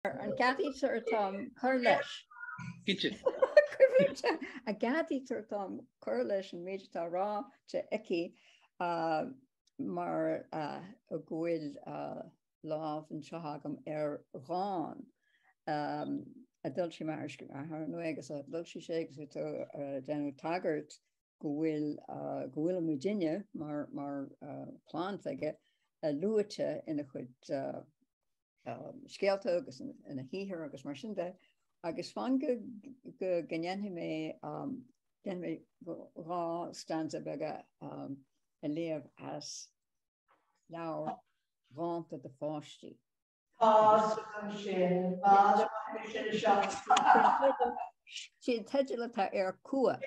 An gceadaítear dom cur leis? Cinnte. Cinnte. An gceadaítear dom cur leis an méid atá ráite aici mar go bhfuil lámh anseo agam ar dhán a d'fhoilsigh m'athair mór agus d'fhoilsigh sé agus tú déanamh tagairt go bhfuil go bhfuil muidinne mar plant aige luaite ina chuid scéalta agus ina shaothar agus mar sin de agus fan go ndéanfaidh mé dhá stanza beaga a léamh as leabhar dhánta do pháistí. Tá an sin, Báidín Fheidhlimidh a seacht. Sin teideal atá air Cumha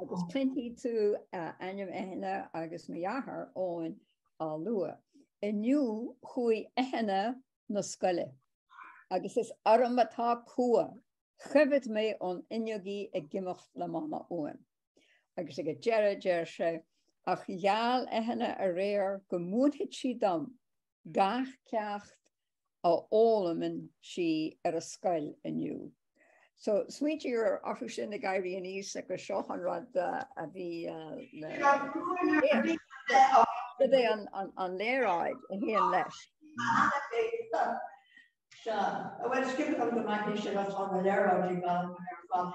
agus cluinfidh tú ainm Eithne agus mo dhearthár Eoin á lua. Inniu chuaigh Eithne 'na scoile agus is orm atá cumha. Choimhead mé ón fhuinneog í ag imeacht le Mama uaim. Agus ag an deireadh deir sé, Ach gheall Eithne aréir go múinfidh sí dom gach ceacht a fhoghlaimeann sí ar an scoil inniu. So smaointítear orthu sin ag éirí aníos agus seo an rud a bhí Cad é an léaráid a théann leis? Bhfuil scríobh an go maith sin as an léaráid ag an ar fad.